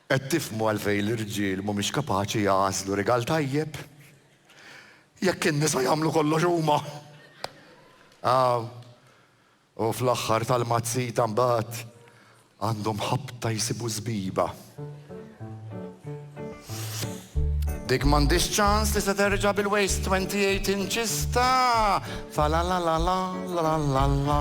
Qed tifhmu għalfejn l-irġiel mhumiex kapaċi jagħżlu rigal tajjeb? Jekk in-nisa jagħmlu kollox huma! Aw, u fl-aħħar tal-mazzita mbagħad għandhom ħabta jsibu żbiba. Dik m'għandhiex ċans li se terġa' bil-waist 28 inches ta' fa la la la la la la la la.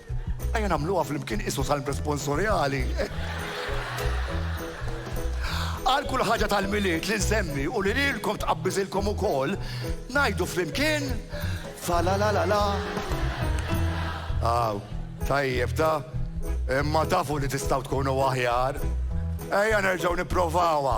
Ejja nagħmluha flimkien qisu salm responsorjali. Għal kull ħaġa tal-Milied li nsemmi u li lilkom tqabbiżilkom ukoll, ngħidu flimkien fa la la la la. Aw, tajjeb ta' imma tafu li tistgħu tkunu aħjar. Ejja nerġgħu nipprovawha.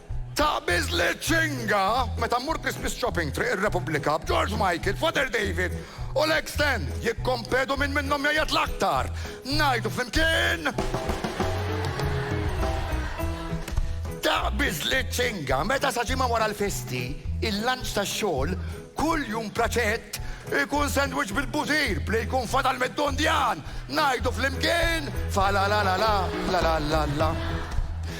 Taqbiż li ċinga meta mmur Christmas shopping Triq ir-Repubblika b'George Michael, Father David u Legs Stand jikkompetu min minnhom jgħajjat l-aktar. Ngħidu flimkien, Taqbiż li ċinga meta sa ġimgħa wara l-festi, il-lunch tax-xogħol, kull jum praċett ikun sandwich bil-butir b'li jkun fadal mid-dundjan. Ngħidu flimkien, Fa la la la la, la la la la.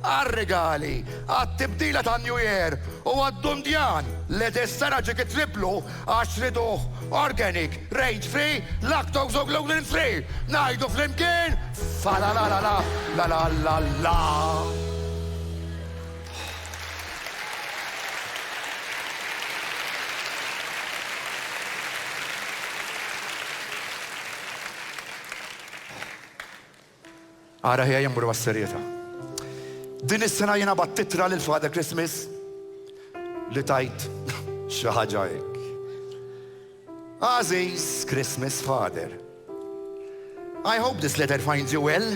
għar-rigali, għat-tibdila tan-New Year u għad-dundjan li dis-sena ġie kitriplu għax riduh organic, range free, lactose u gluten free! Ngħidu flimkien, Falalalala, lalalala! Ara ejja immorru għas-serjetà. Din is-sena jiena bgħatt ittra lil Father Christmas li tgħid xi ħaġa hekk. Għażiż Christmas Father, I hope this letter finds you well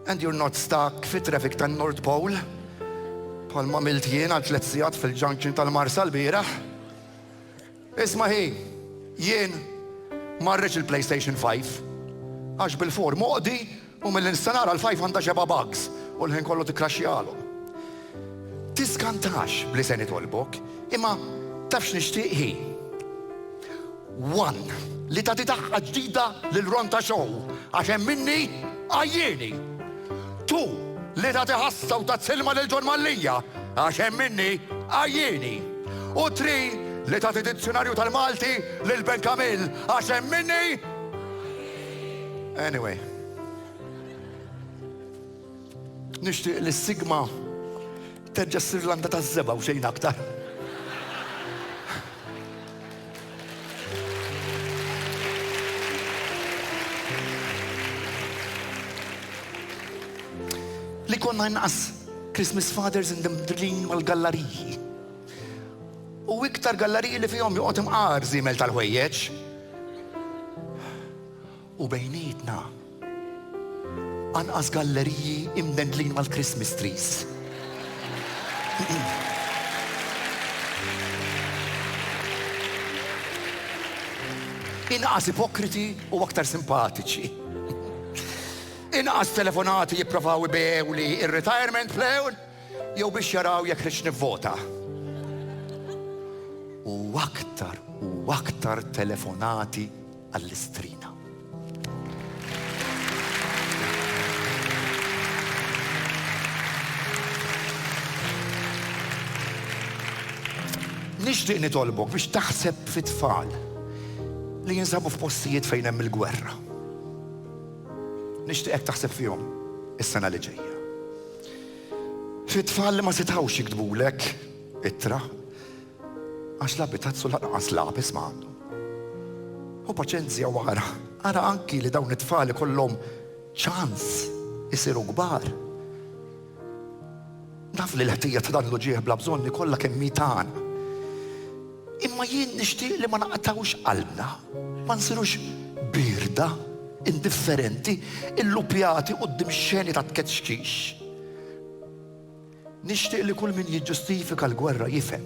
and you're not stuck fit traffic tan North Pole bħal ma milt jien għal tliet sigħat fil-junction tal-Marsa l-bieraħ. Isma' hi, jien ma rridx il-PlayStation 5 għax bil-4 moqdi u milli nista' nara l-5 għandha xebgħa bugs u l-ħin kollu tikkraxxihalhom. Tiskantax b'li se nitolbok, imma taf x'nixtieq hi? One li tagħti daqqa ġdida lil Ronta Show għax hemm minni għajjieni. Tu, li tagħti ħassa u tazz ilma lil Ġon Mallia, għax hemm minni għajjieni. U tri, li tagħti dizzjunarju tal-Malti lil Ben Kamil, għax hemm minni Anyway. Nixtieq li s-sigma Terġa' ssir landa taż-żebgħa u xejn aktar. Li konna inqas Christmas fathers in the mdrlin mal-gallariji. U iktar gallariji li fihom joqgħod imqar żiemel tal-ħwejjeġ. u bejnietna anqas galleriji imdendlin mal-Christmas trees. Inqas ipokriti u aktar simpatiċi. Inqas telefonati jipprovaw ibew li ir-retirement plan jew biex jaraw jekk rix nivvota. U aktar u aktar telefonati għall-istrina. Nixtieq nitolbok biex taħseb fit-tfal li jinsabu f'postijiet fejn hemm il-gwerra. Nixtieqek taħseb fihom is-sena li ġejja. Fit-tfal li ma setawx jiktbulek ittra, Għax la pitazzu lanqas lapis ma għandu. Hu paċenzja u ara, ara anki li dawn it-tfal ikollhom ċans isiru kbar. Naf li l-ħtija ta' dan l-uġieħ bla bżonni kollha kemm mitan. Imma jien nixtieq li ma naqtawx qalbna, ma nsirux birda, indifferenti, illupjati qudiem xeni ta' tkeċċix. Nixtieq li kull min jiġġustifika l-gwerra jifhem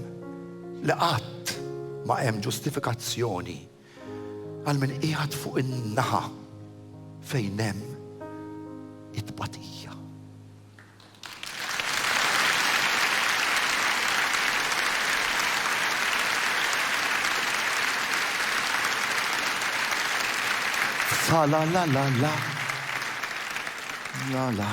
li qatt ma hemm ġustifikazzjoni għal min qiegħed fuq in-naħa fejn hemm it-tbatija. Tra la la la la, la la.